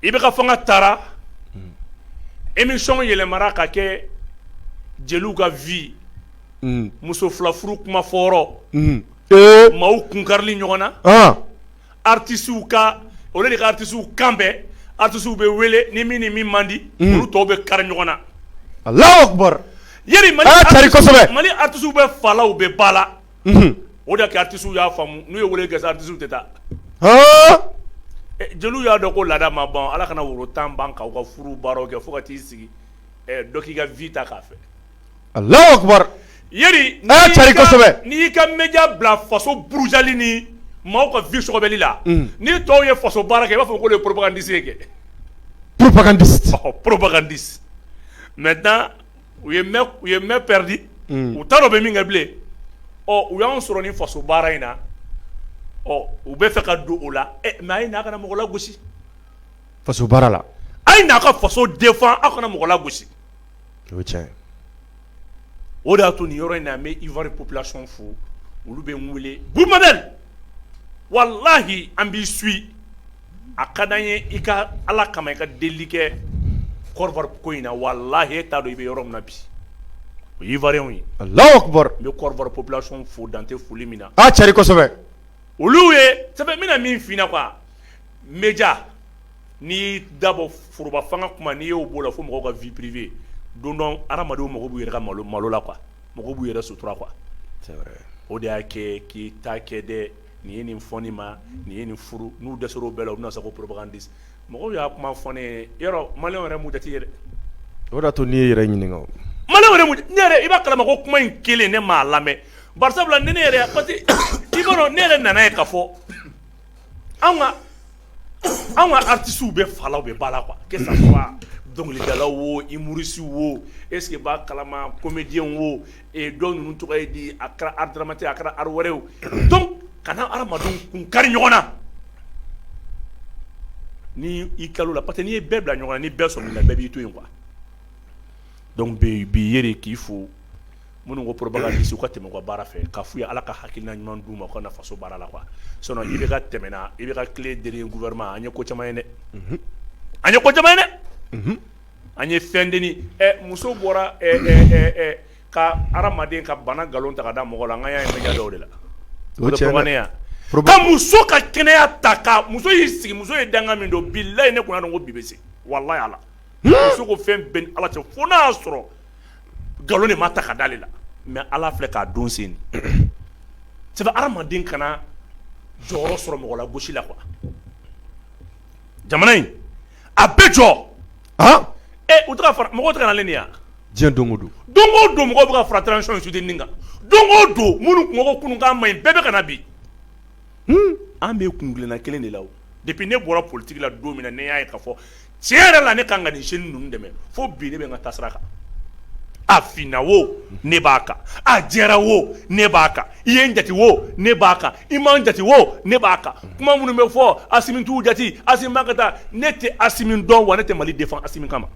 i bɛ ka fanga taara émission yɛlɛmana ka kɛ jeliw ka vie muso fila furu kuma maaw kun kari ɲɔgɔn na artistew ka olu de ka artistew kan artistew bɛ wele ni min ni min man di olu tɔw bɛ kari ɲɔgɔn na a la mali artistew bɛɛ fa la u bɛɛ ba la o d'a kɛ artistew y'a faamu n'u ye weele kɛ artistew tɛ taa jeliw y'a dɔn ko laada ma ban ala kana woro tan ban k'u ka furu baro kɛ fo ka t'i sigi dɔ k'i ka vie ta k'a fɛ allahu akbar yeri n'i y'i ka média bila faso burujali ni maaw ka vie sɔgɔbɛli la ni tɔw ye faso baara kɛ i b'a fɔ k'olu ye propagandiste kɛ propagandiste propagandiste maintenant u ye main perdi u t'a dɔn u bɛ min kɛ bilen ɔ u y'an sɔrɔ nin faso baara in na ɔ u bɛ fɛ ka don o la mais a ye na aw kana mɔgɔ lagosi faso baara la a ye na ka faso défendre aw kana mɔgɔ lagosi o de y'a to nin yɔrɔ in na an bɛ ivoire population fo olu bɛ n weele walahi an b'i suivre a ka di an ye i ka ala kama i ka delili kɛ côte d'ivoire ko in na walahi e t'a dɔn i bɛ yɔrɔ min na bi o y'ivoirienw ye n bɛ population fo dan tɛ foli min na a cari kosɛbɛ olu ye sɛbɛn bɛna min fɛ quoi média n'i dabɔ foroba fanga kuma n'i y'o b'o la fo mɔgɔw ka vie privée don dɔn adamadenw mako b'u yɛrɛ ka malo malo la quoi mɔgɔ b'u yɛrɛ sutura quoi o de y'a kɛ k'i ta kɛ dɛ nin ye nin fɔ nin ma nin ye nin furu n'u dɛsɛra o bɛɛ la u bɛna sa ko propagandiste mɔgɔ y'a kuma fɔ ye yɔrɔ mali yɛrɛ mun jate yɛrɛ o d'a to n'i y'i yɛrɛ ɲininka mali i b'a kalama ko kuma in kelen ne maa lamɛn sabula ni ne yɛrɛ i kɔnɔ ne yɛrɛ nana ye k'a fɔ an ka an ka artistew bɛɛ fa la u bɛɛ ba la dɔnkilidala wo humoriste wo i b'a kalama comédien wo don tɔgɔ ye di a kɛra art dramatique a kɛra art wɛrɛ o donc kana adamaden kun kari ɲɔgɔn na ni i kalo la parce que n'i ye bɛɛ bila ɲɔgɔn na ni bɛɛ sɔrɔ la bɛɛ b'i to yen kuwa dɔnku bɛ bi ye k'i fo minnu ko propagandiste u ka tɛmɛ ka baara fɛ k'a fɔ u ye ala ka hakilina ɲuman d'u ma u ka na faso baara la i bɛ ka tɛmɛɛna i bɛ ka tile de gouvernement an ye ko caman ye dɛ an ye ko caman ye dɛ An ye fɛn denin ɛ muso bɔra ɛ ɛ ɛ ɛ ka hadamaden ka bana galon ta ka da mɔgɔ la an ka yan media dɔw de la o ye tiɲɛ ye dɛ o tɛ fɔ ne ye a problème ka muso ka kɛnɛya ta ka muso y'i sigi muso ye danga min don bilahi ne kun y'a dɔn ko bi bɛ se walahi Ala hun muso ko fɛn bɛ n ni Ala cɛ fo n'a y'a sɔrɔ galon de ma ta ka d'ale la mais Ala filɛ k'a don sen de c'est à dire hadamaden kana jɔyɔrɔ sɔrɔ mɔgɔlagosi la quoi jamana in A bɛ jɔ u mɔgɔ tɛ ne yan diɲɛ don o don don o don mɔgɔ bɛ ka fara transition soutenir kan don o don minnu kun ko kunu k'a man ɲi bɛɛ bɛ ka na bi an bɛ kunna kelen de la depuis ne bɔra politique la don min na ne y'a ye k'a fɔ tiɲɛ yɛrɛ la ne ka kan ni Asimi ninnu dɛmɛ fo bi ne bɛ n ka taasira kan a finna wo ne b'a kan a jɛra wo ne b'a kan i ye n jate wo ne b'a kan i ma n jate wo ne b'a kan kuma minnu bɛ fɔ Asimi t'u jate Asimi mako t'a la ne tɛ Asimi dɔn wa ne tɛ Mali défend Asimi kama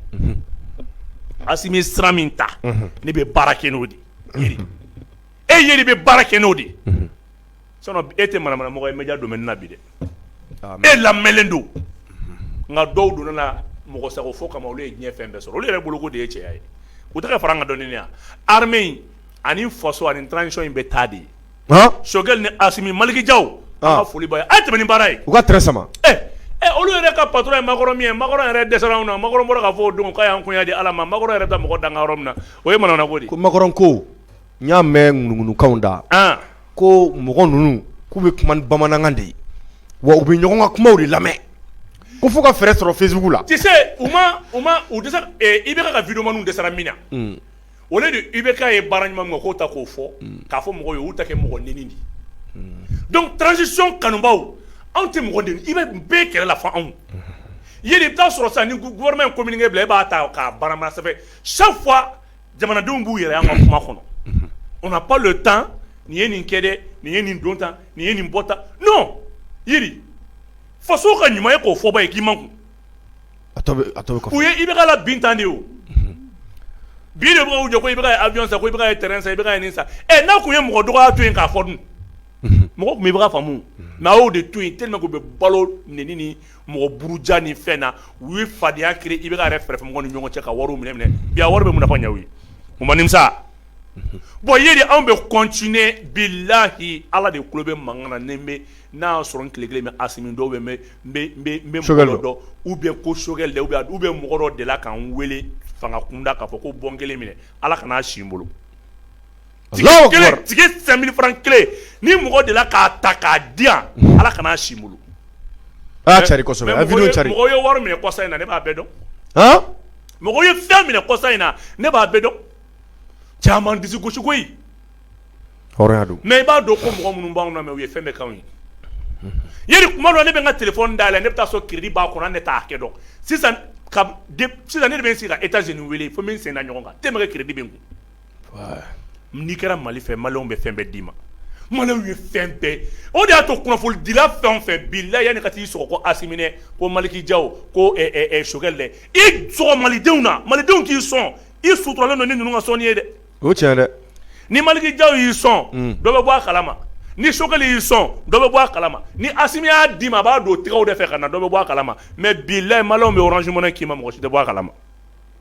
Asimi ye sira min ta ne bɛ baara kɛ n'o de ye e Yeri bɛ baara kɛ n'o de ye sinon e tɛ manamanamɔgɔ ye media domaine na bi dɛ e lamɛnlen don nka dɔw donna na mɔgɔsagofo kama olu ye diɲɛ fɛn bɛɛ sɔrɔ olu yɛrɛ bolo k'o de ye cɛya ye u tɛ ka fara an ka dɔnni kan armée in ani faso ani transition in bɛ taa de Choguel ni Asimi Malick Diaw foli b'aw ye a ye tɛmɛ ni baara ye u ka sama olu yɛrɛ ka patron ye Macron min ye Macron yɛrɛ dɛsɛra anw na Macron bɔra k'a fɔ don ka anw di Ala ma Macron yɛrɛ mɔgɔ dan yɔrɔ min na o ye mana ko di Macron ko n y'a mɛn ŋunuŋunukan na ko mɔgɔ ninnu k'u bɛ kuma bamanankan de ye wa u bɛ ɲɔgɔn ka kuma de lamɛn ko fo ka fɛɛrɛ sɔrɔ Facebook la u i bɛ ka vidéomanw dɛsɛra min na o de don i bɛ ka ye baara ɲuman ma k'o ta k'o fɔ k'a fɔ mɔgɔw y'u ta kɛ mɔgɔnɛni de donc transition kanubaw anw tɛ mɔgɔden i bɛ bɛɛ kɛlɛ la fɔ an Yeri i bɛ t'a sɔrɔ sani gouvernement ka communiqué bila i b'a ta k'a barabara ça fait chaque fois jamanadenw b'u yɛrɛ an ka kuma kɔnɔ on n'a pas le temps nin ye nin kɛ dɛ nin ye nin don tan nin ye nin bɔ tan non Yeri faso ka ɲuman ye k'o fɔba ye k'i ma kun A tɔ bɛ kɔfɛ, u ye IBK labin tan de o, unhun, bi de b'u jɔ ko IBK ye avion san, ko IBK ye terrain san, ko IBK ye nin san, ɛ n'a tun ye mɔgɔ dɔgɔya to yen k'a fɔ dun, unhun, mɔgɔw tun bɛ IBK faamu mais a y'o de to yen tellement que u bɛ balo nɛni ni mɔgɔ buruja ni fɛn na, u ye fadenya créer IBK yɛrɛ kɛrɛfɛmɔgɔw ni ɲɔgɔn cɛ ka wariw minɛ minɛ, bi a wari bɛ mun na fo k'a ɲɛ u ye, u ma nimisa wa, bon Yeri anw bɛ continuer bilahi Ala de tulo bɛ mankan na ni n bɛ n'a y'a sɔrɔ n tile kelen bɛ Asimi dɔn ou bien n bɛ dɔn u bɛ ko sogɛli u bɛ mɔgɔ delila ka n weele fanga kunda k'a fɔ ko bɔn kelen minɛ ala kana n'a si bolo kelen kelen ni mɔgɔ delila k'a ta k'a di ala kana n'a si bolo cari mɔgɔw ye wari minɛ kɔsa in na ne b'a bɛɛ dɔn mɔgɔw ye fɛn minɛ kɔsa in na ne b'a bɛɛ dɔn caman di gosiko mɛ i b'a dɔn ko mɔgɔ minnu b'anw mɛn u ye fɛn bɛkan ye yiri kuma dɔn ne bɛ n ka telefɔni da la ne bɛ t'a sɔrɔ keredi b'a kɔnɔ ne t'a hakɛ dɔn sisan ne bɛ sigi ka etazini weele fo min sen ɲɔgɔn kan te bɛ kɛ keredi n'i kɛra mali fɛ mali bɛ fɛn bɛɛ d'i ma mali ye fɛn bɛɛ o de y'a to nafolo fɛn fɛ bi la yanani ka t'i sɔrɔ ko a minɛ ko maliki jaw ko sogɛli dɛ i malidenw na malidenw k'i sɔn i suturalen don ni ninnu ka sɔn ye dɛ o tɛ dɛ ni maliki jaw y'i sɔn dɔ bɛ bɔ a kalama ni sogɛli y'i sɔn dɔ bɛ bɔ a kalama ni asimi y'a d'i ma a b'a don tɛgɛw de fɛ ka na dɔ bɛ bɔ a kalama mɛ bilayi maliyɛnw bɛ orange money k'i ma mɔgɔ si tɛ bɔ a kalama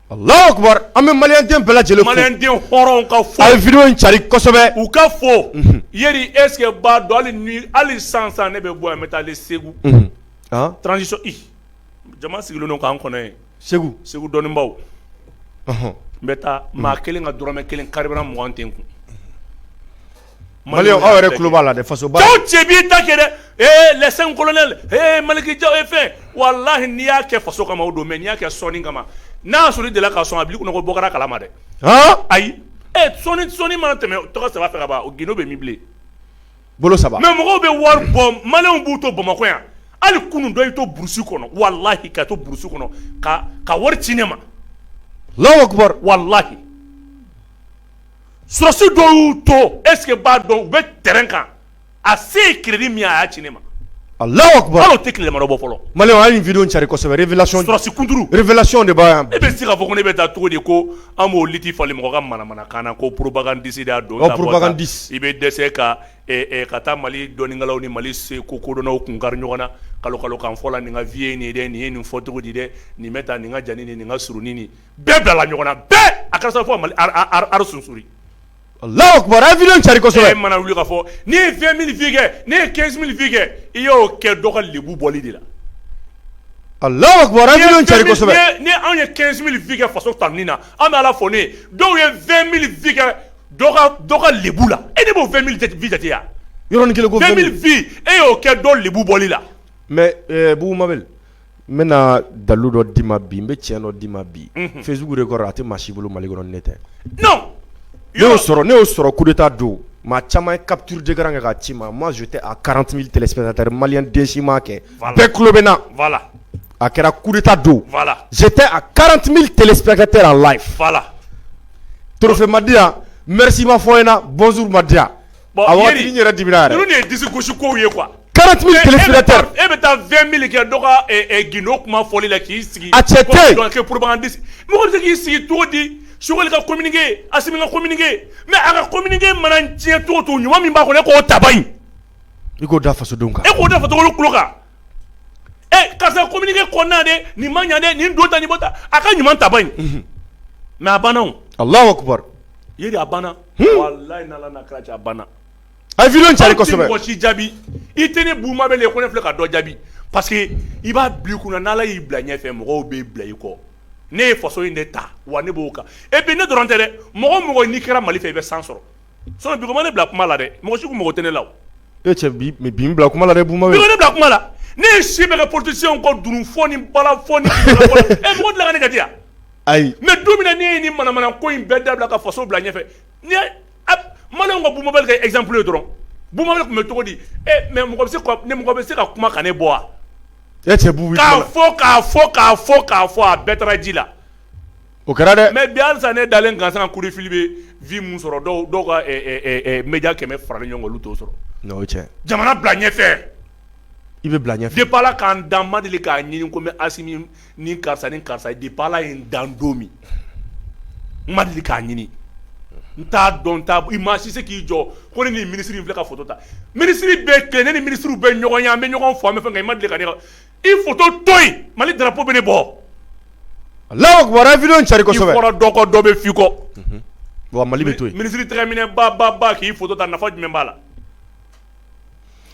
alahu akibaru an bɛ maliden bɛɛ lajɛlen maliden hɔrɔn ka fɔ wideyo cari kosɛbɛ u ka fɔ ye eseke b'a dɔn hali san san ne bɛ bɔ yan n bɛ taa segu transisiyɔn jama sigilen k'an kɔnɔ yen segu segu dɔnnibaw n bɛ taa maa kelen ka dɔrɔmɛ kelen kari mɔgɔw an tɛ kun mali aw yɛrɛ tulo b'a la faso cɛ b'i ta kɛ dɛ le kolonɛli maliki jaw e fɛ walahi n'i y'a kɛ faso kama o don mɛ n'i y'a kɛ sɔnni kama n'a sɔrɔ i delila ka sɔn a b'i kɔnɔ ko bɔ a kalama dɛ ayi sɔnni mana tɛmɛ tɛgɛ saba fɛ ka ban o gundo bɛ min bilen bolo saba mɛ mɔgɔw bɛ wari bɔ maliyɛnw b'u to bamakɔ yan hali kunun dɔ y'i to burusi kɔnɔ walahi ka to burusi kɔnɔ ka ka wari ci ne ma walahi sɔrɔdasi dɔw y'u to eseke b'a dɔn u bɛ tɛrɛn kan a se ye keredi min a y'a ci ne ma a tɛ tilema bɔ fɔlɔ mali wideyo cari kosɛbɛ eseke b'a dɔn ne bɛ se ka fɔ ko ne bɛ taa cogo di ko An b'o liti falen mɔgɔ ka manamanakan na ko poropagandisi de don poropagandisi i bɛ dɛsɛ ka ka taa mali dɔnnikɛlaw ni mali se ko kodɔnnaw kun kari ɲɔgɔn na kalon kalonkan fɔ la nin ka vye nin dɛ nin ye nin fɔ cogo di dɛ nin bɛ taa nin ka jan ni nin ka surunin bɛɛ bilala ɲɔgɔn na bɛɛ a ka fɔ mali sunururi alahu akibaru wideyo cari kosɛbɛ mana wuli ka fɔ n ye vɛn mili vi kɛ ne ye kɛnzi mili vi kɛ i y'o kɛ dɔ ka lebu bɔli de la alahu akibaru wideyo cari kosɛbɛ ni anw ye kɛnzi mili vi kɛ faso tanuni na an bɛ ala fo ni dɔw ye vɛn mili vi kɛ dɔ ka lebu la e ne b'o vɛn mili vi jate yan yɔrɔ vɛn mili vi e y'o kɛ dɔ lebu bɔli la mɛ buguba n bɛna dalu dɔ d'i ma bi n bɛ tiɲɛ dɔ d'i ma bi fisuku de kɔrɔ a tɛ maa si bolo mali dɔrɔn ne tɛ y'o sɔrɔ ne y'o sɔrɔ ku taa don maa caman ye kabiurujɛkɛ kan ka ci ma ma tɛ a karanti tɛsɛ mali desi ma kɛ bɛɛ tulo bɛ na a kɛra kuta don tɛ a karanti tɛkɛ tɛ a la fa la torofe madiya msi ma fɔ in ɲɛna bɔnz madiya yɛrɛ di ye di gosi ko ye kuwa e bɛ taa fɛn mili kɛ dɔgɔ gdo kuma fɔli la k'i sigi a cɛ k'i sigi cogo di soli ka communiqué a ka communiqué mɛn a ka communiqué mana diɲɛ to to ɲuman min b'a kɔnɔ k'o ta i k'o da fasodenw kan e k'o da kan ɛ karisa ko kɔnɔna de nin ma ɲaden nin don ta ta a ka ɲuman taba in mɛ a banna a la a banna jaabi i tɛ ne Bouma Bel ko ne filɛ ka dɔ jaabi parce que i b'a bila i kun na n'Ala y'i bila ɲɛfɛ mɔgɔw bɛ bila i kɔ ne ye faso in de ta wa ne b'o kan et puis ne dɔrɔn tɛ dɛ mɔgɔ o mɔgɔ n'i kɛra mali fɛ i bɛ san sɔrɔ so ne bila kuma la dɛ mɔgɔ sugu mɔgɔ tɛ ne la e cɛ bila kuma la ne bila kuma la ne ye si bɛɛ kɛ politicienw kɔ dunun fɔ ni balafɔ e la ne ka di yan ayi mais don min na ne ye nin manamana ko in bɛɛ dabila ka faso bila ɲɛfɛ man ka Bouma Bel kɛ exemple ye dɔrɔn Bouma Bel tun bɛ cogo di mais mɔgɔ bɛ se ka kuma ka ne bɔ wa e cɛ fɔ k'a fɔ k'a fɔ k'a fɔ a bɛɛ taara ji la o kɛra dɛ mais bi halisa ne dalen gansan kuru fili bɛ vues min sɔrɔ dɔw ka média kɛmɛ fara ɲɔgɔn kan olu t'o sɔrɔ jamana bila ɲɛfɛ i bɛ bila ɲɛ depuis ala k'an dan n ma deli k'a ɲini ko mɛ a ni karisa ni karisa depuis ala ye n dan don min n ma deli k'a ɲini n t'a dɔn t i maa si se k'i jɔ ko ne ni minisiri in fila ka foto ta minisiri bɛ kɛ ne ni minisiriw bɛ ɲɔgɔn ye an bɛ ɲɔgɔn fo an bɛ fɛ nka i ma deli ka i foto mali drapeau bɛ ne bɔ lafifi cari kɔrɔ dɔ kɔ dɔ bɛ fi kɔ mali bɛ to minisiri tɛmɛminɛ ba ba k'i foto ta nafa jumɛn b'a la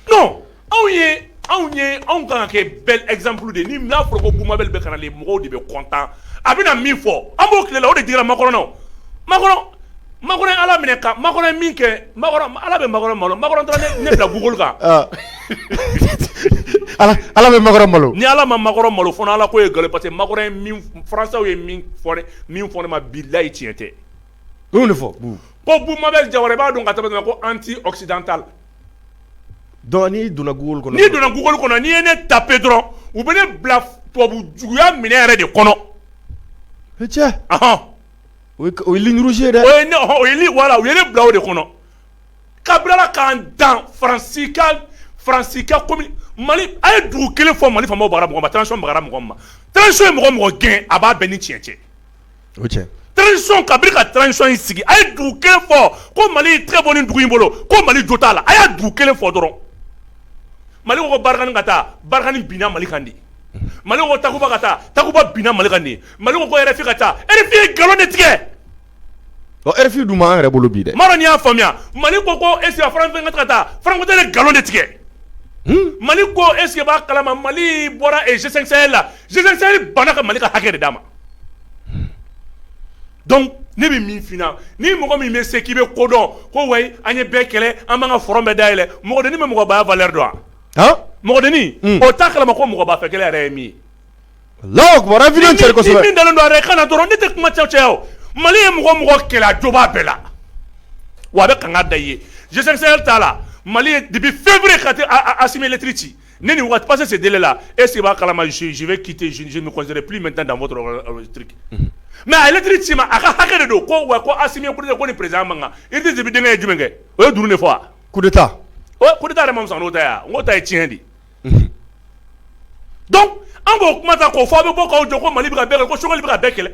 non anw ye anw ye anw kan ka kɛ bel exemple de ye ni n'a fɔra ko Bouma Bel bɛ ka na le mɔgɔw de bɛ content a bɛna min fɔ an b'o tile la o de digira Macron na o Macron Macron ye Ala minɛ ka Macron ye min kɛ Macron Ala bɛ Macron malo Macron taara ne ne bila Google kan ɔ Ala Ala bɛ Macron malo ni Ala ma Macron malo fo n'Ala ko ye nkalon ye parce que Macron ye min f françaisw ye min f fɔ ne min fɔ ne ma bilahi tiɲɛ tɛ U de fɔ ko bubu mabɛl jawara b'a dɔn ka tɛmɛ ko anti-occidental don n'i donna Google kɔnɔ n'i donna Google kɔnɔ n'i ye ne taper dɔrɔn u bɛ ne bila tubabu juguya minɛ yɛrɛ de kɔnɔ cɛ o ye irisi dɛ o ye wala u ye ne bila o de kɔnɔ ka bilala k'an dan faransi faransi kɔmi mali a ye dugu kelen fɔ mali fɔ bagara mɔgɔ ma transition bagara mɔgɔ ma transition ye mɔgɔ mɔgɔ gɛn a b'a bɛn ni tiɲɛ cɛ transition kabini ka transition in sigi a ye dugu kelen fɔ ko mali tɛ bɔ ni dugu in bolo ko mali jo t'a la a y' dugu kelen fɔ dɔrɔn mali ko barkhane ka taa barkhane binna mali kan di mali ko takuba ka taa takuba binna mali kan di mali ko RFI ka taa RFI ye nkalon de tigɛ RFI dun yɛrɛ bolo bi dɛ ma y'a faamuya mali ko ko e ka taa farankun tɛ nkalon de tigɛ hmm? mali ko e b'a kalama mali bɔra la G5 banna ka mali ka hakɛ de d'a ma Ne bɛ min ni mɔgɔ min bɛ se k'i bɛ kodɔn ko wa an ye bɛɛ kɛlɛ an ka front bɛɛ da yɛlɛ mɔgɔden bɛ mɔgɔ ba valeur dɔn mɔgɔden o t'a kalama ko mɔgɔ ba fɛ kɛlɛ yɛrɛ ye min dɔrɔn ne tɛ kuma cɛwcɛ mali ye mɔgɔ mɔgɔ kɛlɛ a jo b'a bɛɛ la wa a bɛ kanga da G5 Sahel ta la mali ye depuis février ka asimi lɛtiri ci ne ni waati passé délai la est-ce que i b'a kalama je vais quitter je me considère plus maintenant dans votre truc mais a ye lɛtiri ci ma a ka hakɛ don ko wa ko asimi ye kudeta ko ni président ma kan i tɛ denkɛ ye jumɛn kɛ o ye dunun de fɔ kudeta kudeta yɛrɛ masa n'o ta yan n' ta ye tiɲɛ de donc an k'o kuma ta k'o fɔ a bɛ bɔ'aw jɔ ko mali bɛ bɛɛ ko Choguel bɛ ka bɛɛ kɛlɛ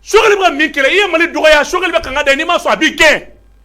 Choguel bɛ min kɛlɛ i ye mali dɔgɔya Choguel bɛ ka kan da n'i ma sɔn a b'i gɛn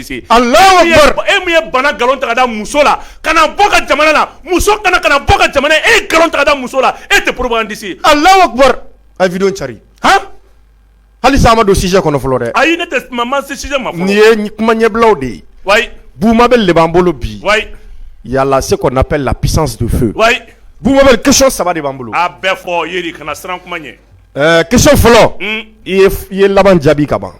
E ye bana nkalon ta muso la ka bɔ ka jamana la muso kana ka bɔ ka jamana e nkalon ta muso la e tɛ poro dise a lawa cari halisa an ma don sujet kɔnɔ fɔlɔ dɛ ayi ne tɛ ma sujet ma nin ye kuma ɲɛbilaw de ye wa bubu mabɛl de b'an bolo bi yalala c'est ce qu'on appelle la puissance de feu bubu mabɛl question saba de b'an bolo a bɛɛ fɔ kana siran kuma ɲɛ question fɔlɔ i ye laban jaabi kaban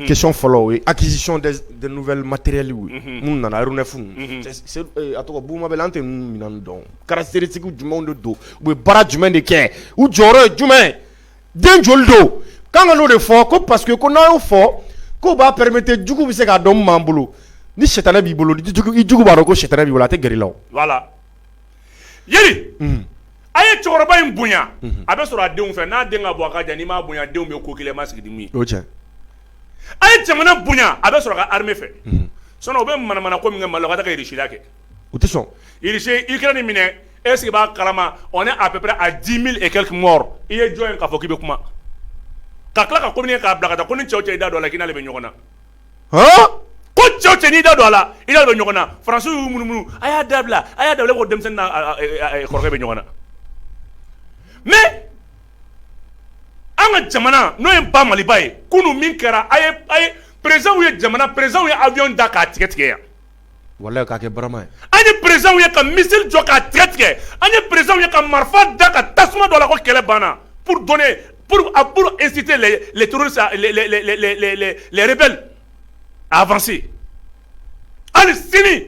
question fɔlɔ acquisition de nouveaux matériels n nana fu a tɔgɔ bubu an tɛ minɛn dɔn caractéristique jumɛn de don u ye baara jumɛn de kɛ u jɔyɔrɔ ye jumɛn den joli don kan n'o de fɔ ko parce que ko n'a y'o fɔ ko b'a permettre jugu bɛ se k'a dɔn b'an bolo ni sitanɛ b'i bolo jugu b'a dɔn ko sitanɛ b'i bolo a tɛ gɛrɛ i la a ye cɛkɔrɔba in bonya a bɛ sɔrɔ a denw fɛ n'a den ka bɔ a n'i m'a bonya denw bɛ ko kelen ma sigi a ye jamana bonya a bɛ sɔrɔ a ka armée fɛ sinon u bɛ manamana ko min kɛ mali ka taa kɛ irisi la kɛ u tɛ sɔn irisi ukraine minɛ est ce que i b'a kalama on est à peu près à dix mille et quelques morts i ye jɔn ye k'a fɔ k'i bɛ kuma ka tila ka communiqué k'a bila ka taa ko ni cɛ cɛ i da don a la k'i n'ale bɛ ɲɔgɔn na ko cɛw cɛ n'i da don a la i n'ale bɛ ɲɔgɔn na france y'u munumunu a y'a dabila a y'a dabila ko denmisɛn n'a kɔrɔkɛ bɛ ɲɔgɔn na mais an ka jamana n'o ye ba maliba ye kunun min kɛra a ye présidentw ye jamana présidentw ye avion da k'a tigɛ tigɛ yan Wala ka kɛ barama ye an ye perezw ye ka misisiriri jɔ ka tigɛ tigɛ an ye perez ye ka marifa da ka tasuma dɔ la ko kɛlɛ banna esite lɛrɛre a hali sini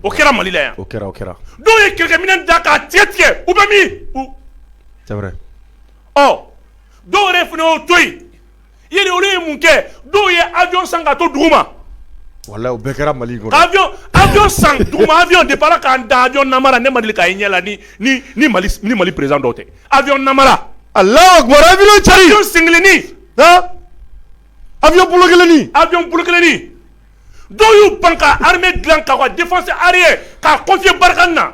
o kɛra malila yan o kɛra kɛra dɔw ye kɛlɛkɛmin da k'a cɛ tigɛ u bɛ min dɔw yɛrɛ fana y'o to yen ye olu ye mun kɛ dɔw ye avion san ka to dugu ma walayi o bɛɛ kɛra Mali kɔnɔ avion avion san dugu ma avion depuis Ala k'an da avion namara ne ma deli k'a ye n ɲɛ la ni ni ni Mali ni Mali président dɔw tɛ avion namara Alahu akibaru avion cari avion senkelenni han avion bolo kelenni avion bolo kelenni dɔw y'u ban ka armée dilan ka u ka défense aérienne k'a confier Barkhane na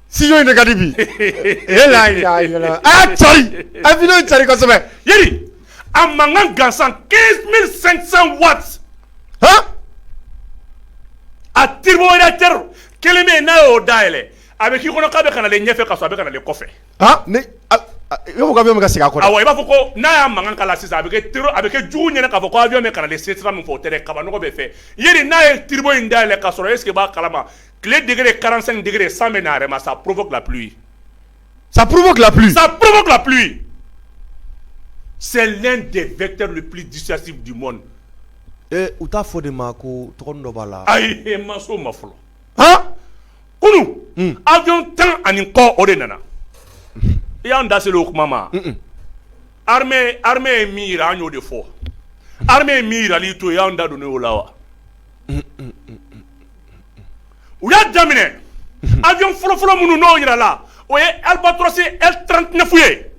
studio in de ka di bi ee laa ilaaha ila laahu a y'a cari a ye video in cari kosɛbɛ yali a mankan gansan 15500 watts han a turboréacteur kelen bɛ yen n'a y'o dayɛlɛ a bɛ k'i kɔnɔ k'a bɛ ka nalen ɲɛfɛ ka sɔrɔ a bɛ ka nalen kɔfɛ han ne a a i b'a fɔ ko avion bɛ ka segin a kɔ de awɔ i b'a fɔ ko n'a y'a mankan k'a la sisan a bɛ kɛ tero a bɛ kɛ jugu ɲɛna k'a fɔ ko avion bɛ ka nalen se sira min fɛ o tɛ dɛ kabanɔgɔ bɛ fɛ yali n'a ye turbo in dayɛlɛ ka sɔrɔ est ce que i b'a kalama tile degegre kalanran degegre san bɛ na a yɛrɛ ma sa porobu sa pbu sa porobup sɛɛn deɛrɛp disasi di mɔn u t'a fɔ de ma ko tɔgɔ dɔ b'a la ayi ma so ma fɔlɔ kunun aw dun tan ani kɔ o de nana i y'an da seli o kuma ma ye mi an y'o de fɔ ye mi jirali to y'an da don o la wa u y'a daminɛ a bɛ fɔlɔfɔlɔ minnu n'o jira la o ye alibatorasi e tfo ye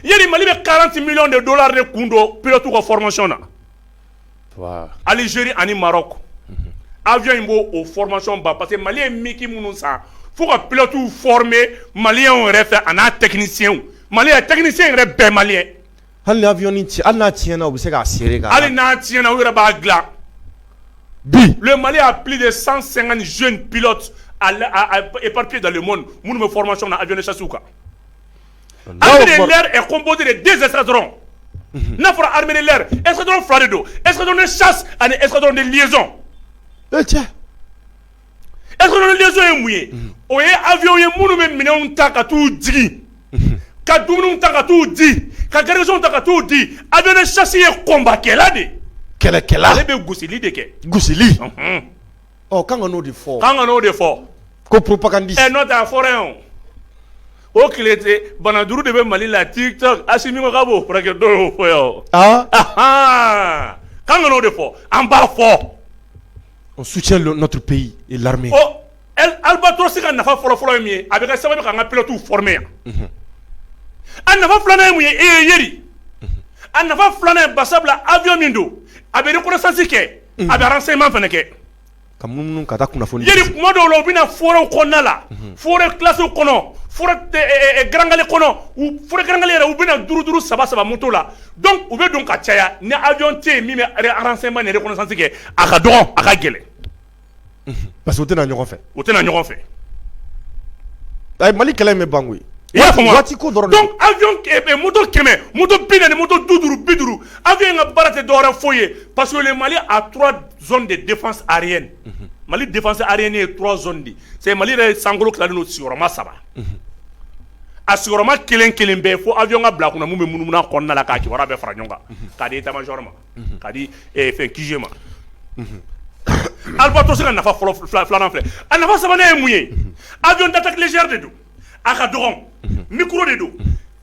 yiri mali bɛ kalanti mi de don la de kun don ptu ka fmay na alizeri ani mara kɔ a in b' o fmasɔn ba parce que mali ye miki minnu san fo ka pti f mali yɛrɛ fɛ ani n'a tɛyɛn mali a tɛyɛn yɛrɛ bɛɛ mali ye Hali n'a avion ci hali n'a tiɲɛna u bɛ se k'a sere ka hali n'a tiɲɛna u yɛrɛ b'a dilan bi le Mali a plus de 150 jeunes pilotes à l à à éparpillés dans le monde minnu bɛ formation na avion de chasse kan armée de l'air est composée de 2 escadrons unhun n'a fɔra armée de l'air escadron 2 de don escadron de chasse ani escadron de liaison ee cɛ Escadron liaison ye mun ye o ye avion ye minnu bɛ minɛnw ta ka taa jigin ka dumuni ta ka taa jigin ka garnison ta ka taa jigin avion de chasse ye combat kɛla de kɛlɛkɛla ale bɛ gosili de kɛ gosi ɔ ka n'o de fɔ ka n'o de fɔ ko pdi n'o a fɔra yan o tile bana duuru de bɛ mali la TikTok Assimi Goïta b'o furakɛ dɔw fɔ yan ka o de fɔ an b'a fɔ O su cɛlɔtu peyi l'armée Albatros ka nafa fɔlɔfɔlɔ ye mun ye a bɛ kɛ sababu k'an ka pilotew former yan a nafa filanan ye mun ye e Yeri a nafa filanan ye basa bila avion min don a bɛ reconnaissance kɛ a bɛ renseignement fana kɛ ka minnu ka kunnafoni Yeri kuma dɔw la u bɛ na forêtw kɔnɔna la forêt classéew kɔnɔ forêt garankɛ kɔnɔ garankɛ yɛrɛ u bɛ na duuru duuru saba saba moto la Dɔnku u bɛ don ka caya ni ajɔn tɛ yen min bɛransɛma ni yɛrɛsase kɛ a ka dɔgɔn a ka gɛlɛn pa que u tɛna ɲɔgɔn fɛ u tɛna ɲɔgɔn fɛ a ye mali kɛlɛ bɛ ban i y'a fɔ waati ko dɔrɔn dɔn mutu kɛmɛ mu bin ni mutu du duuru bi duuru a bɛ ka bara tɛ dɔwɛrɛ foyi ye pa mali a turason de defa areye mali defase areye ye turason de sɛ mali yɛrɛ ye sankolo kima saba a sigiyɔrɔma kelen kelen bɛɛ fo avion ka bila a kun na min bɛ munumunu a kɔnɔna la ka kibaruya bɛɛ fara ɲɔgɔn kan k'a di état-major ma k'a di fɛn QG ma Albatros ka nafa fɔlɔ filanan filɛ a nafa sabanan ye mun ye avion d'attaque légère de don a ka dɔgɔn micro de don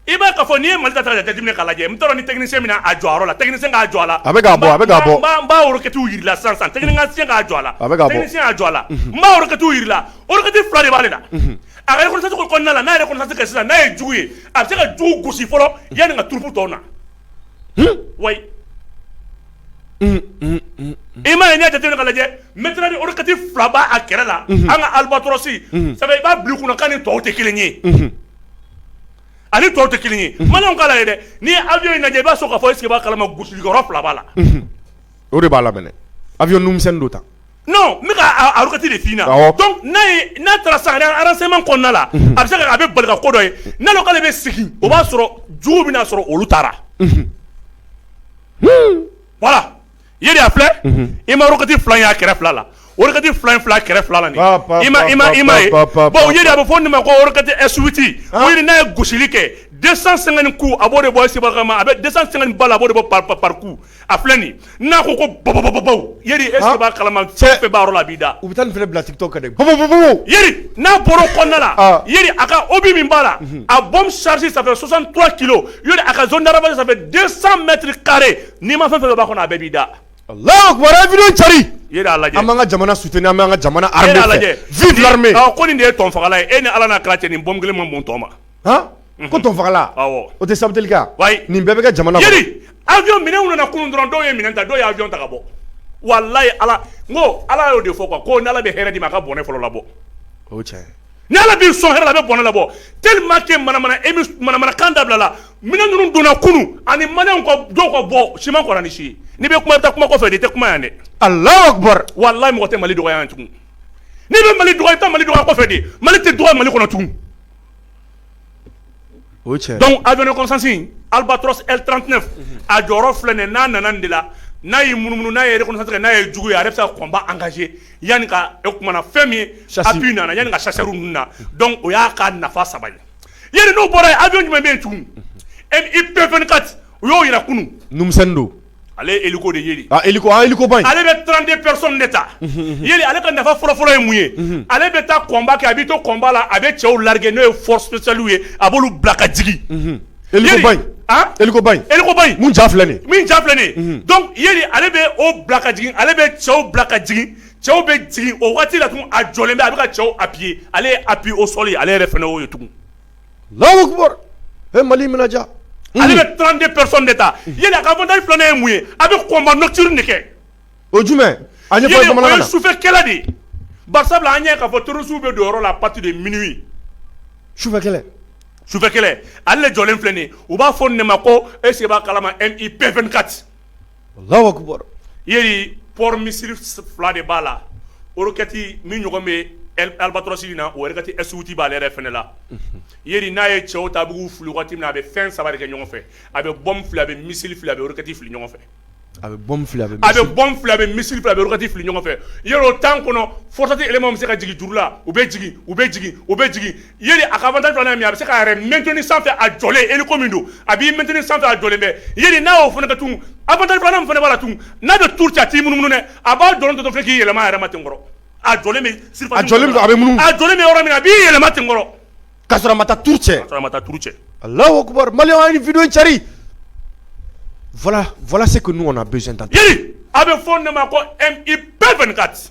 I b'a ka fɔ n'i ye mali ta lajɛ jateminɛ ka lajɛ n taara ni tɛgsi min a jɔ la tɛgɛ se k'a jɔ la a bɛ bɔ a bɛ bɔ n b'a roquettew jira la san san tɛ se k'a jɔ la a bɛya jɔ la n b'a roquettew jira la roquette fila de b'ale la a bɛtigiw kɔnɔna la n'a yɛrɛti ka sisan n'a ye jugu ye a bɛ se ka jugu gosi fɔlɔ yanni ka troupe tɔw na wa i ma ye ɲɛ jate ka lajɛ n ni roquette fila b'a kɛrɛ la an ka Albatros sabu i b'a bulon kɔnɔ ka ni tɔw tɛ kelen ye ani tɔw tɛ kelen ye bamanan kala ye dɛ n'i ye avion in lajɛ i b'a sɔrɔ ka fɔ i sigi kalama gosiliyɔrɔ fila b'a la o de b'a la mais avion misɛn don ta kati de fana donc n'a taara sa a renseignement kɔnɔna la a bɛ se a bɛ bali ka ko dɔ ye n'ale ko ale bɛ sigi o b'a sɔrɔ jugu bɛna a sɔrɔ olu taara voilà ye de y'a filɛ i ma wagati fila y'a kɛrɛfɛ fila la wagati fila fila kɛrɛfɛ fila la i ma ma i ma ye a bɛ fɔ nin ma ko e suti n'a ye gosisili kɛ dɛsɛ san ku a b'o de bɔ se ma a bɛ dɛsɛ san bala a b'o bɔ pa pariku a filɛ nin n'a ko ko babɔ e kala fɛn la b'i da u bɛ taa fana bila tɔ ka n'a bɔra kɔnda la a ka o bɛ min ba la a bɔ sasi sanfɛ sɔsan tora ki a ka zdaraba sanfɛ san mɛtiri kari N'i ma fɛn fɛn b'a kɔnɔ a bɛɛ b'i da lajɛ an ka jamana soutenir an ka jamana lajɛ ko nin ye tɔnfa e ni ala cɛ ni bɔ kelen ma mutɔ ma ko tɔnfa o tɛ sabali nin bɛɛ bɛ kɛ jamana avion minɛnw nana kunun dɔrɔn dɔw ye minɛn ta dɔw ye avion ta ka bɔ walahi ala n ko ala y'o de fɔ ko ni ala bɛ hɛrɛ di i ma a ka bɔnɛ fɔlɔ labɔ Ni ala b'i sɔn hɛrɛ la a bɛ bɔnɛ labɔ tellement que manamana émi manamanakan dabilala minɛn ninnu donna kunun ani malienw ka b dɔw ka bɔ siman kɔnna ni si ye n'i bɛ kuma i bɛ taa kuma kɔfɛ de i tɛ kuma yan dɛ Allahu Akbar walahi mɔgɔ tɛ Mali dɔgɔya yan tugun n'i bɛ Mali dɔgɔya i bɛ taa Mali dɔgɔya kɔfɛ de Mali tɛ dɔgɔya Mali kɔnɔ tugun o cɛ dɔnku a dɔn kɔsansin aliba tranp a jɔyɔrɔ filɛ nin n'a nana de la n'a ye mununu n'a yɛrɛ kɔsɔnsɛ n'a ye juguya ye a bɛ se kɔnba an kaz yanni e tumaumana fɛn min sa nana yanani ka sari ninnu na o y'a ka nafa saba ye yɛrɛ n'o bɔra a jumɛn bɛ tun e i bɛɛ kati u y'o jira kunumumi don Ale ye hélico de ye, a hélico an hélico ba in, ale bɛ 32 personnes de ta, unhun unhun, Yeli ale ka nafa fɔlɔ fɔlɔ ye mun ye, unhun, ale bɛ taa combat kɛ a bɛ to combat la a bɛ cɛw larguer n'o ye force spéciale ye a b'olu bila ka jigin, unhun, hélico ba in, an, hélico ba in, hélico ba in, min ja filɛ nin ye, min ja filɛ nin ye, unhun, donc Yeli ale bɛ o bila ka jigin ale bɛ cɛw bila ka jigin cɛw bɛ jigin o waati la tugun a jɔlen bɛ a bɛ ka cɛw appuyer ale ye appui au sol ye ale yɛrɛ fana y'o ye tugun Lahu e mali minɛ ale bɛ tɔn de psɔn de ta yɛlɛ a ka fɔ da filannen ye mun ye a bɛ kɔnba nɔtuururi de kɛ o jumɛn sufɛkɛla de ba sabula an ɲɛ ka fɔ tuurusiww bɛ don yɔrɔ la pati de mini sufɛ sufɛ ale jɔlen filɛ u b'a fɔ ne ma ko ese kalama e ip kati Alahu akibaru Yeli porte missile fila de b'a la roquette min ɲɔgɔn bɛ albatros in na roquette S 8 b'ale yɛrɛ fana la Yeli n'a ye cɛw ta a b'u fili waati min na a bɛ fɛn saba de kɛ ɲɔgɔn fɛ a bɛ bombe fili a bɛ missile fili a bɛ roquette fili ɲɔgɔn fɛ a bɛ bombe fili a bɛ bombe fili a bɛ missile fili a bɛ roquette fili ɲɔgɔn fɛ Yeli o temps kɔnɔ FORSAT élément bɛ se ka jigin juru la u bɛ jigin u bɛ jigin u bɛ jigin ye a ka mɛnt min a bɛ se ka yɛrɛ mɛt sanfɛ a jɔlen e min don a b'i mɛt sanfɛ a jɔlen bɛɛ ye n'a y'o fana ka tun a fana b'a la tun n'a bɛ tu cati minnu dɛ a b'a dɔn dɔ fɛ k'i yɛlɛma yɛrɛma ten kɔrɔ a jɔ a jɔlen yɔrɔ min a b'i yɛlɛma ten kɔrɔ ka sɔrɔ ma taa tu cɛ cɛ a la filase ko ɲɔgɔn na a bɛ fɔ ne ma ko i bɛɛ kati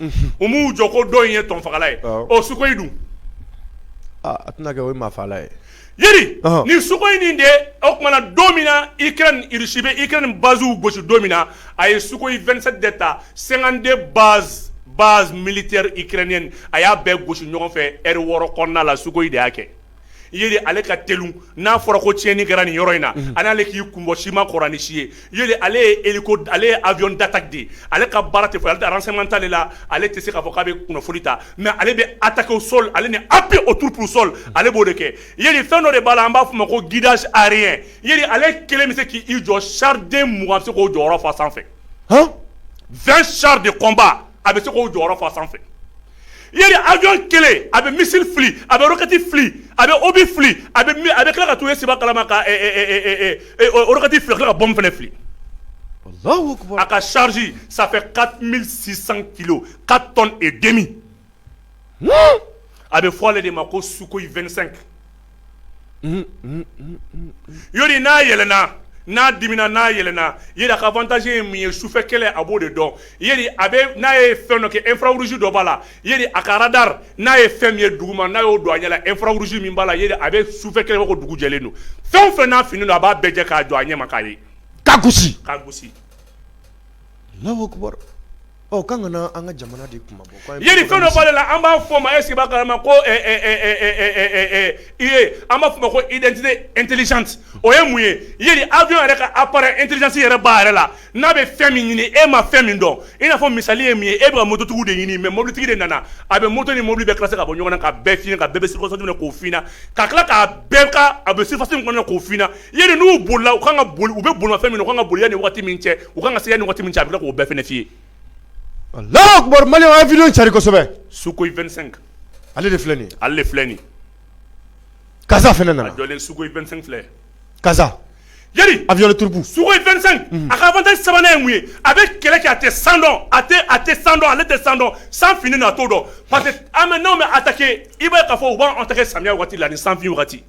u b'u jɔ ko dɔ in ye tɔnfala ye ɔ sukoyi dun a tɛna kɛ o maafala ye yeli nin sukoyi in de o tuma na don min na ukraine irisi bɛ ukraine basew gosi don min na a ye sukoyi 27 de ta 52 base base militaire ukrainienne a y'a bɛɛ gosi ɲɔgɔn fɛ ɛri wɔɔrɔ kɔnɔna la sukoyi de y'a kɛ yeli ale ka teli n'a fɔra ko tiɲɛni kɛra nin yɔrɔ in na ale ale k'i kun bɔ sima kɔrɔin si ye yeli ale ye e ale ye avion d'attaque de ye ale ka baara tɛ ale tɛ renseignement tali la ale tɛ se k'a fɔ k'a bɛ kunnafoni ta mais ale bɛ attaque au sol ale ni appui aux troupes au sol ale b'o de kɛ yeli fɛn dɔ de b'a la an b'a fɔ ma ko guidage aérien yeli ale kelen bɛ se k'i jɔ char den mugan bɛ se k'o jɔyɔrɔ fa sanfɛ 20 chars de combat a bɛ se k'o jɔyɔrɔ fa sanfɛ yeli avion kelen a bɛ missile fili a bɛ roquette fili a bɛ obus fili a bɛ a bɛ tila ka to e seba kalama ka roquette fili ka tila ka bombe fana fili a ka charge ça fait 4600 kilos 4 tonnes et demi a bɛ fɔ ale de ma ko sukoyi 25 n'a yɛlɛnna n'a dimina n'a yɛlɛnna yeli a ka avantage ye mun ye sufɛ kɛlɛ a b'o de dɔn n'a ye fɛn dɔ kɛ infrarouge dɔ b'a la yeli a ka radar n'a ye fɛn min ye dugu ma n'a y'o don a ɲɛ la infrarouge min b'a la a bɛ sufɛ kɛlɛ ko dugu jɛlen don fɛn o fɛn n'a finnen don a b'a bɛɛ jɛ k'a jɔ a ɲɛ ma k'a ye k'a gosi k'a gosi Ɔ k'an kana an ka jamana de kuma bɔ yeli fɛn dɔ b'ale la an b'a fɔ ma e sigi kala ma ko i ye an b'a fɔ ma ko i dent n teli o ye mun ye ye avion yɛrɛ ka appareil intelligence yɛrɛ b'a yɛrɛ la n'a bɛ fɛn min ɲini e ma fɛn min dɔn i n'a fɔ misali ye min ye e bɛ mototigi de ɲini mais mobilitigi de nana a bɛ moto ni mobili bɛ ka se ka bɔ ɲɔgɔn ka bɛɛ fiɲɛ ka bɛɛ se kɔsɔ k'o fana ka tila k'a bɛn kan a bɛ sefa kɔnɔ k'o fina ye n'u boli u kan ka boli u bɛ boli fan min u kan ka boli ni waati min cɛ u ka kan ka se ni waati min cɛ a bɛ k'o bɛɛ fana f'i ye la mali ye fi cari kosɛbɛ sukoyi 25 ale de filɛ nin ale de filɛ nin karisasa fana nana jɔlen sukoyi 25 filɛ karisasa yeli a bɛ tuuruku sukoyi 25 a ka avantage sabanan ye mun ye a bɛ kɛlɛ kɛ a tɛ san dɔn a tɛ a tɛ san dɔn ale tɛ san dɔn san finnen a t'o dɔn parce que armée n'aw bɛ attaquer i b'a ye k'a fɔ u b'an attaquer samiya waati la ni sanfin waati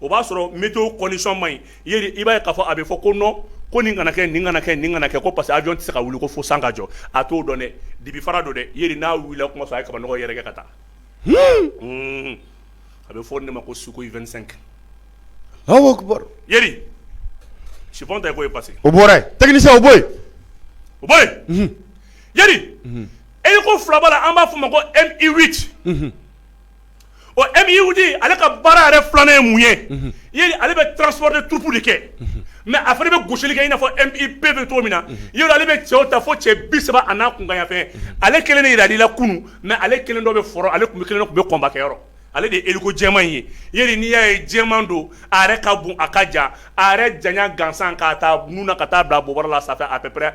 o b'a sɔrɔ météo condition ma ɲi i b'a k'a fɔ a bɛ fɔ ko nɔn ko nin kana kɛ nin kana kɛ nin kana kɛ ko parce que avion tɛ se ka wuli ko fo san ka jɔ a t'o dɔn dɛ dibi fara don dɛ ye n'a wili kuma a ye kabanɔgɔ yɛrɛkɛ ka taa a bɛ fɔ de ma ko Sukhoi vingt-cinq tɛ ko parce o bɔra technicien o bɔ o bɔ hélico filaba an b'a f fɔ ma ko Mi huit Ɔ Mi huit ale ka baara yɛrɛ filanan ye mun ye ale bɛ transport de troupe de kɛ mɛ a fana bɛ gosili kɛ i n'a fɔ bɛɛ bɛ cogo min na y ale bɛ cɛw ta fo cɛ bi saba a n'a kunkanfɛn ale kelen de jirali la kunun mɛ ale kelen dɔ bɛ front ale tun kelen tun bɛ kɔnbakɛyɔrɔ ale de ye hélico jɛman in ye ye n'i y'a ye jɛman don a ka bon a ka jan a janya gansan k'a ta nun na ka taa bila a bobara la sanfɛ à peu près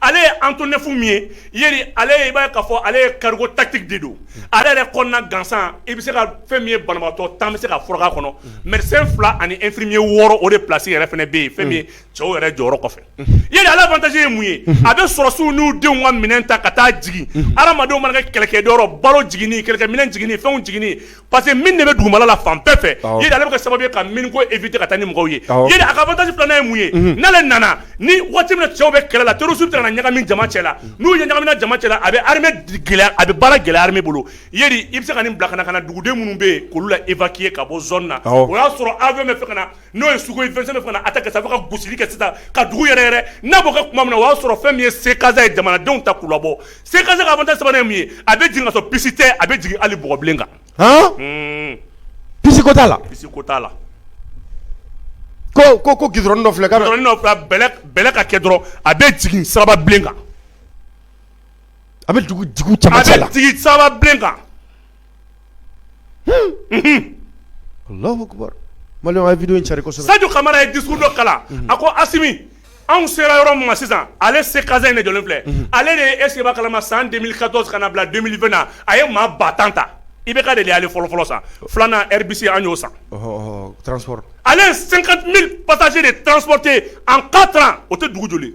ale ye Antonov min ye ale i b'a ka fɔ ale ye cargo tactique de don ale yɛrɛ kɔnɔna gansan i bɛ se ka fɛn min ye banabatɔ tan bɛ se ka furakɛ a kɔnɔ médecin fila ani infirmier wɔɔrɔ o de plasi yɛrɛ fana bɛ yen fɛn min ye cɛw yɛrɛ jɔyɔrɔ kɔfɛ i ale avantage ye mun ye a bɛ sɔrɔdasiw n'u denw ka minɛn ta ka taa jigin adamadenw mana kɛ kɛlɛkɛyɔrɔ balo jigin kɛlɛkɛminɛn jigin fɛn jigin Parce que mine de bɛ dugumana la fan bɛɛ fɛ ale bɛ kɛ sababu ye ka mine ko éviter ka taa ni mɔgɔw ye a ka avantage filanan ye mun ye n'ale nana ni waati min na cɛw bɛ kɛlɛ la terroristew taara ɲagami jama cɛ la n'u ɲagamina jama cɛ la a bɛ a bɛ baara gɛlɛya armée bolo i bɛ se ka nin bila ka na ka na duguden minnu bɛ yen olu la évacuer ka bɔ zone na o y'a sɔrɔ avion bɛ fɛ ka na n'o ye Sukhoi vingt-cinq a ka sababu ka gosili kɛ sisan ka dugu yɛrɛyɛrɛ n'a b'o kɛ tuma min na o y'a sɔrɔ fɛn min ye C CASA ye jamanadenw ta k'u labɔ C CASA ka avantage sabanan ye mun ye a bɛ jigin kasɔrɔ piste tɛ a bɛ jigin ali bɔgɔbilen kan piste ko t'a la piste ko t'a la ko ko ko g dɔ filɛ ka ka kɛ dɔrɔn a bɛ jigin saba kan a bɛ dugu saba kan Sadu kamara ye di dɔ kala a ko a anw sera yɔrɔ ma sisan ale se kaz in de jɔlen filɛ ale de ye e se kalama san den ka kana bila na a ye maa ba tan ta i bɛ ka de ale fɔlɔ fɔlɔ sa filanan bisi an y'o san ale senka pata de tante an ka o tɛ dugu joli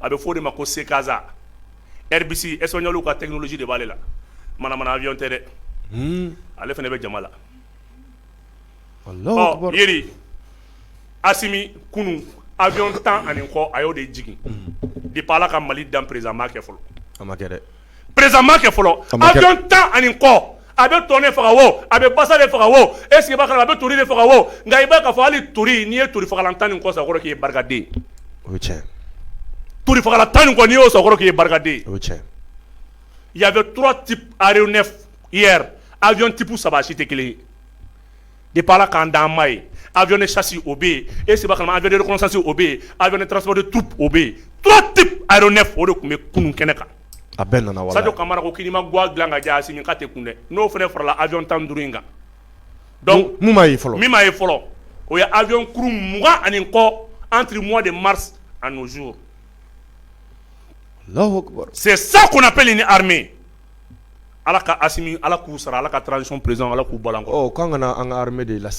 a bɛ fɔ de ma ko se kasansa esɔnli ka tɛsi de b'ale la ayɔn tɛ dɛ ale fana bɛ jama la ami kunun ayɔn tan ani kɔ a y'o de jigin de b'a ala ka mali dan perezsa kɛ fɔlɔ perezma kɛ fɔlɔ bɛ tan ani kɔ a bɛ tɔn faga wo a bɛ basa de faga wo e sigi a bɛ to de faga wo nka i b'a fɔ hali to n'i ye to fagalan tan ni kɔsa k'i barikaden tola tan ni y'o kɔrɔ k'i barikaden ya bɛura ti aɛ a jɔn tipu saba si tɛ kelen De b'a k'an d ma ye a ne sasi o bɛ yen e saba ka a vsa o bɛ yen a ne taara de tu o bɛ yen tu tɛ a ne fɔ o de tun bɛ kunun kɛnɛ kan a bɛɛ nana sa kamara ko k'i ma ga dilan ka jan sin ka tɛ kun dɛ n'o fana farala a jɔn tan duuru in kan fɔlɔ min ye fɔlɔ o ye a jɔnkuru mugan ani kɔ an mɔ de mari ani z se sa kunnap ni hame ala ka Asimi ala k'u sara ala ka transition perez ala k'u bɔ k' ka anme de la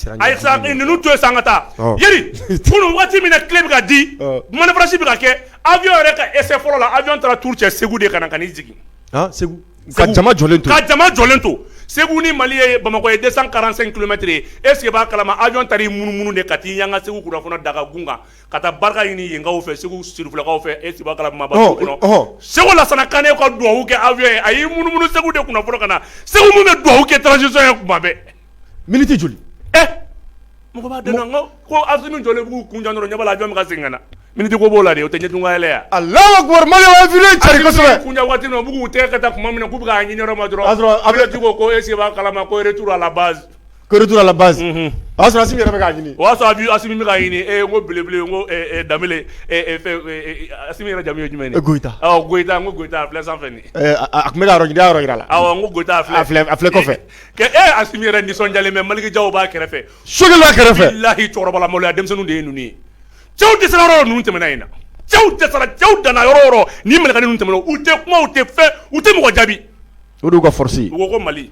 ninnu to yen san ka taa Yeri kunun waati min na clé bɛ ka di manifestation bɛ ka kɛ avion yɛrɛ ka essai fɔlɔ la avion taara tour kɛ segu de ka na ka na i jigin segu ka jama jɔlen to ka jama jɔlen to segu ni mali ye bamakɔ ye deux cent quarante-cinq kilomètres est-ce que i b'a kalama avion taara i munumunu de ka taa i yan ka segu kɔnɔ daga kun kan ka taa barika ɲini yenkaw fɛ segu sirifilakaw fɛ est-ce i b'a kalama bɔ dugawu kɔnɔ ɔhɔ ɔhɔ segu Lasana Kane ka dugawu kɛ avion a y'i munumunu segu de kunna fɔlɔ ka na segu min bɛ dugawu kɛ transition ye kuma bɛɛ miniti joli ɛ mɔgɔ b'a dɔn ko ko Asimi jɔlen b'u kun jan dɔrɔn ɲɛ b'a la avion bɛ ka segin ka na miniti ko b'o la de o tɛ ɲɛdon ka yɛlɛ yan Alahu akibaru Mali ye infini cari Asimi kosɛbɛ b'u kun jan waati min na u bɛ k'u tɛgɛ kɛ tan tuma min na k'u bɛ k'a ɲini yɔrɔ min na dɔrɔn A sɔrɔ a bɛ- Aminata ko ko est-ce i b'a kalama ko retour à la base Tour à la base o y'a sɔrɔ Asimi yɛrɛ k'a ɲini o y'a sɔrɔ Asimi k'a ɲini e ko belebele n ko da Asimi yɛrɛ jamu ye jumɛn Goyita Goyita a filɛ sanfɛ a tun bɛ yɔrɔ jira la n ko Goyita a filɛ kɔfɛ Asimi yɛrɛ nisɔndiyalen mais Maliki Jaw b'a kɛrɛfɛ so kɛrɛfɛ bilahi cɛkɔrɔbamaya denmisɛnnin de ye ninnu ye cɛw dɛsɛra yɔrɔ ninnu tɛmɛna in na cɛw dɛsɛra cɛw danna yɔrɔ ni minɛ ninnu tɛmɛna u tɛ kuma tɛ fɛ u tɛ mɔgɔ jaabi o u ka force ye u ko mali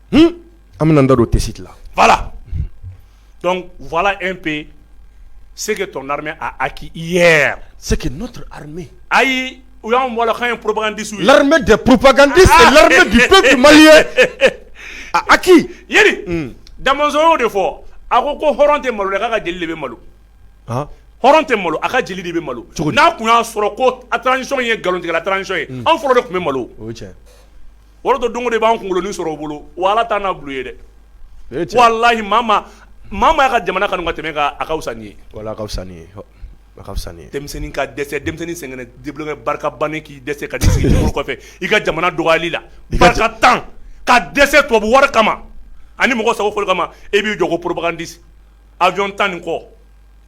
an bɛ da don tɛ siti la vwala e pe yen seke t a k' i yɛrɛ se n'o hame ayi u y'an bɔrakan ye pbadisu la tɛ ppkandi la mali ye a ki dazw de fɔ a ko ko hɔrɔn tɛ maloya ka jeli de bɛ malo hɔrɔn tɛ malo a ka jeli de bɛ malo n'a tun y'a sɔrɔ ko a taara nisɔn ye nkalontigɛ a taara nisɔn ye anw fɔlɔ de tun bɛ malo O don don de b'an kunkolokolon sɔrɔ u bolo wala taa n'a bulon ye dɛ walahi mama maaya ka jamana kanu ka tɛmɛ k' akawsa ye walasa denmisɛnnin ka dɛsɛ denmisɛnnin sɛgɛnnen debilen barika bannen k'i dɛsɛ ka dɛsɛli kɔfɛ i ka jamana dɔgɔyali la barikantan ka dɛsɛ tubabu wari kama ani mɔgɔ sago fɔli kama e b'i jɔ ko propagandiste avion tan ni kɔ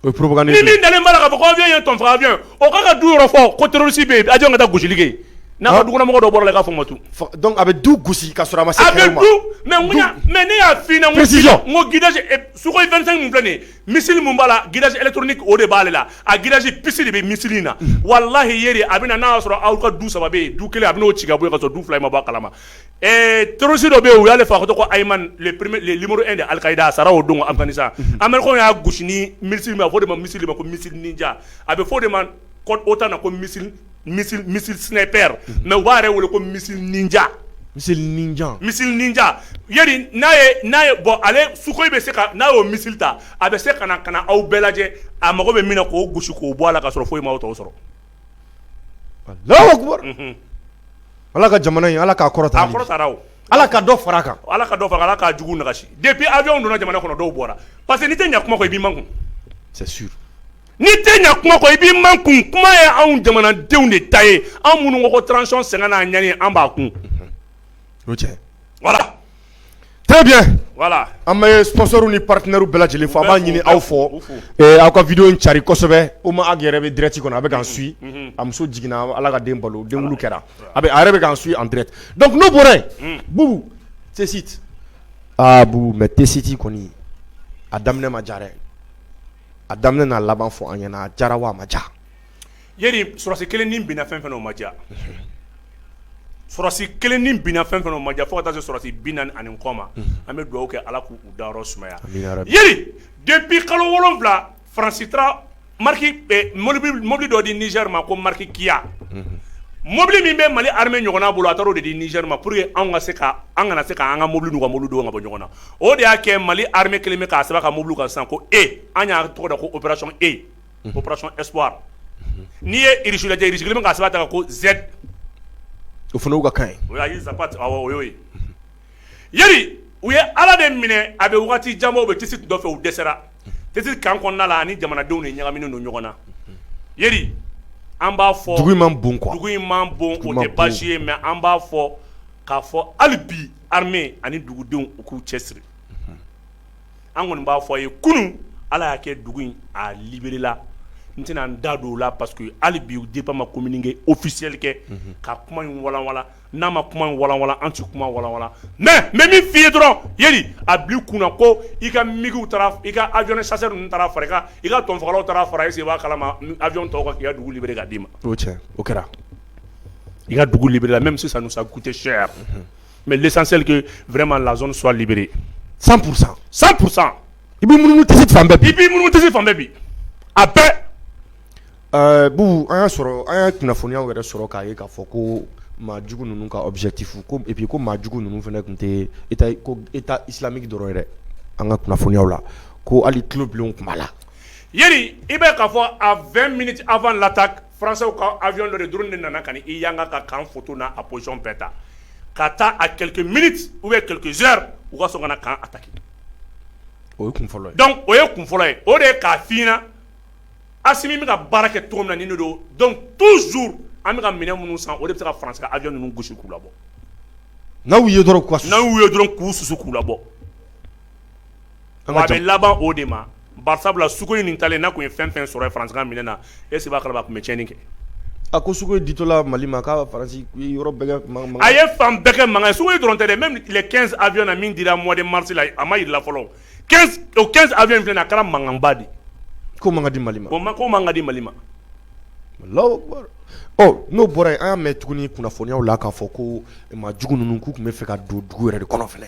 O ye propagande ye, ni min dalen b'a la k'a fɔ ko avion ye tonton avion ye o k'a ka du yɔrɔ fɔ ko terroriste bɛ yen avion ka taa gosili kɛ yen n'a ka dukɔnɔmɔgɔ dɔ bɔra la i k'a fɔ u ma tun, donc a bɛ du gosi k'a sɔrɔ a ma se kɛlɛ ma, a bɛ du mais n ko y'a mais ne y'a f'i ɲɛna, précision, n ko guidage sukoyi 25 min filɛ nin ye missile min b'a la guidage électronique o de b'ale la a guidage puce de bɛ missile in na walahi Yeri a bɛ na n'a y'a sɔrɔ aw ka du saba bɛ yen du kelen a bɛ n'o ci ka bɔ yen ka sɔrɔ du fila in ma bɔ a kalama Ɛɛ tororisi dɔ bɛ yen u y'ale fa tɔgɔ limuru de alikayi a sara o don a amadu y'a gosi ni misi a fɔ de ma misi ma ko misi ja a bɛ fɔ de ma o ta ko misi sinɛ pɛ mɛ u b'a yɛrɛ wele ko misi ja misi misi ja ya n'a n'a ye bɔ ale su bɛ se n'a y'o misi ta a bɛ se ka ka aw bɛɛ lajɛ a mago bɛ min k'o gosi k'o bɔ a la ka sɔrɔ foyi ma tɔgɔ sɔrɔ ala ka jamana in ala k'a kɔrɔta ala ka dɔ fara a kan ala ka dɔ fara a kan ala ka jugu nagasi depuis avion donna jamana kɔnɔ dɔw bɔra parce que n'i tɛ ɲɛ kuma kɔ i b'i makun c'est sûr n'i tɛ ɲɛ kuma kɔ i b'i makun kuma ye anw jamanadenw de ta ye anw minnu ko ko transition sɛgɛn n'a ɲani an b'a kun cɛ An bɛ sponsorw ni partenairew bɛɛ lajɛlen fo an b'a ɲini aw fɛ aw ka vidéo in cari kosɛbɛ o ma aw yɛrɛ bɛ direct kɔnɔ a bɛ k'an suivi a muso jiginna ala ka den balo den wolo kɛra a a yɛrɛ bɛ k'an suivi en direct donc an tun bɔra Bubu Tessit a Bubu mais Tessit kɔni a daminɛ ma diya dɛ a daminɛ n'a laban fɔ an ɲɛna a diyara wa a ma diya sɔrɔsi kelen nin binna fɛn fɛn o ma diya sɔrɔsi kelen nin binna fɛn o ma diya fo ka sɔrɔsi binaani kɔ ma an bɛ dugawu kɛ ala k'u da sumaya depuis kalo wolonwula Faransi taara ka mɔbili dɔ di Niger ma ko marque Kia mɔbili min bɛ mali armée ɲɔgɔn bolo a taara o de di Niger ma pour que an ka se ka an kana se k'an ka mɔbili n'u ka mɔbili dɔn ka bɔ ɲɔgɔn na o de y'a kɛ mali armée kɛlen bɛ k'a sɛbɛn a ka mɔbili kan sisan ko e an y'a tɔgɔ da ko opération e ko opération espoir n'i ye Irisi sigilen bɛ k'a sɛbɛn a ta kan ko z o fana ka kan o ye Zapad o ye Yeli u ye ala de minɛ a bɛ waati jan bɔ Tessit nɔ fɛ u dɛsɛra Tessit camp kɔnɔna la ani jamanadenw ni ɲagaminen don ɲɔgɔn na an b'a fɔ dugu man bon bon o tɛ baasi ye mais an b'a fɔ k'a fɔ hali bi armée ani dugudenw u k'u cɛ siri an kɔni b'a fɔ aw ye kunun ala y'a kɛ dugu in a libéréla n tɛna n da don o la parce que hali bi DIRPA ma communiqué officiel kɛ ka kuma in walawala n'a ma kuma in walawala an tɛ kuma walawala mais n bɛ min fɔ i ye dɔrɔn Yeli a bi kun na ko i ka MiG i ka avion chasseurw taara fara a kan i ka tɔnfa taara fara i se b'a kala ma avion tɔw ka dugu libéré k'a d'i ma o kɛra i ka dugu libéréla même si ça nous a coûté cher Mɛ lesanselike vma la sɔlibbiri san kurusa san kurusa i bɛ mununu tɛ tɛ fan bɛɛ bi a bɛɛ ɛɛ bu an y'a sɔrɔ an ye kunnafoniya yɛrɛ sɔrɔ k'a ye k'a fɔ ko maa jugu ninnu ka awbitikuru ko epi ko maa jugu ninnu fana tun tɛ e silamɛmiki dɔrɔn yɛrɛ an ka kunnafoniya la ko hali tulobilen tun la i bɛ k'a fɔ a fɛn miniti a lata Faransiw ka awyɔn dɔ drone de nana ka i yanga ka kan foto n' a position bɛɛ ta ka taa a quelques minutes ou bien quelques heures u ka sɔrɔ ka na kan ataki o ye kun fɔlɔ dɔnku o ye kun fɔlɔ ye o de ye k'a fɔ i na Asimi bɛ ka baara kɛ cogo min na don donc toujours an bɛ ka minɛn minnu san o de bɛ se ka Faransi ka awyɔn ninnu gosi k'u labɔ n'aw ye dɔrɔn n'u ye dɔrɔn k'u susu k'u labɔ a bɛ laban o de ma Parce sabula Sukhoi nin talen n'a tun ye fɛn fɛn sɔrɔ ye Faransi ka minɛn na est ce que i b'a kalama a tun bɛ tiɲɛni kɛ? A ko Sukhoi ditɔla Mali ma k'a bɛ Faransi yɔrɔ bɛɛ kɛ mankan mankan ye, a ye fan bɛɛ kɛ mankan ye, Sukhoi dɔrɔn tɛ dɛ même les 15 avions na min dira mois de mars la a ma jira i la fɔlɔ, 15 o 15 avions in filɛ nin ye a kɛra mankanba de ye, k'o man kan ka di Mali ma, o man k'o man kan ka di Mali ma, Alahu akibaru, ɔ n'o bɔra yen an y'a mɛn tuguni kunnafoniyaw la k'a fɔ ko maa jugu ninnu k'u tun bɛ fɛ ka don dugu yɛrɛ de kɔnɔ fana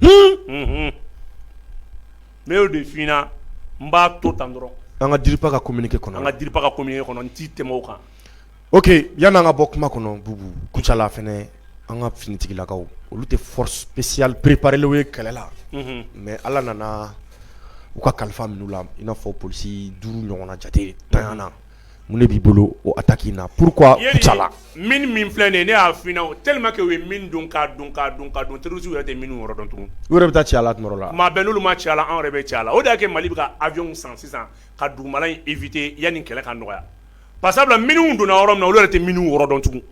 n y'o de fɔ i ɲɛna n b'a to tan dɔrɔn an ka DIRPA ka communiqué kɔnɔ an ka DIRPA ka communiqué kɔnɔ n tɛ tɛmɛ o kan oke yanni an ka bɔ kuma kɔnɔ Bubu Kucala fana an ka finitigilakaw olu tɛ force spéciale préparélenw ye kɛlɛ la mais ala nana u ka kalifa minɛ u la i n'a fɔ polisi duuru ɲɔgɔnna jate taara Mun b'i bolo o ataki na polisi la mine mine filɛ nin ne y'a fɔ i na tellement k'u ye mine don ka don ka don ka don terorisiw yɛrɛ tɛ mine yɔrɔ dɔn tugun u yɛrɛ bɛ taa ci a la maa bɛn n'olu ma ci a la anw yɛrɛ bɛ ci a la o de y'a kɛ mali bɛ ka awyɔn san sisan ka duguma in évité yanni kɛlɛ ka nɔgɔya parce sabula mine donna yɔrɔ min na olu yɛrɛ tɛ mine yɔrɔ dɔn tugun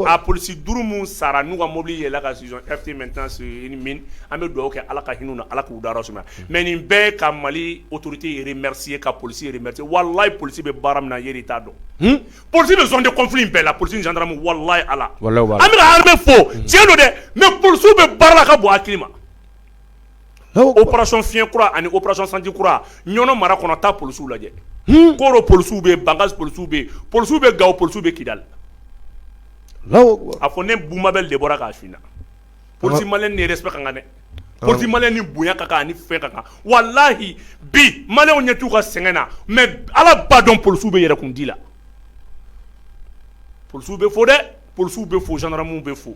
A polisi duuru minnu sara n'u ka mobili yɛlɛ ka an bɛ dugawu kɛ ala ka hinɛ ala k'u da suma mɛ nin bɛɛ ka mali otourute ye ka polisi wala polisi bɛ baara min na t'a dɔn psi bɛ tɛfi bɛɛ la psi wala ala an bɛ fɔ cɛn don dɛ mɛ psiw bɛ baara ka bɔ a ma oerasɔn fi fiɲɛyɛnkura ani oerasɔn sanji kura ɲɔn mara kɔnɔ taa pw lajɛ ko pw bɛ yen banga pw bɛ yen pw bɛ ga pw bɛ kida la a ko ne bba bɛ de bɔra k'a fna psi ma ne yɛrɛ ka kan dɛ psi ma ni bonya kan ni fɛn ka kan walahi bi ma ɲɛ t' u ka sɛgɛn na mɛ ala ba dɔn pw bɛ yɛrɛ kun' la p bɛ fo dɛ pw bɛ fo saramu bɛ fo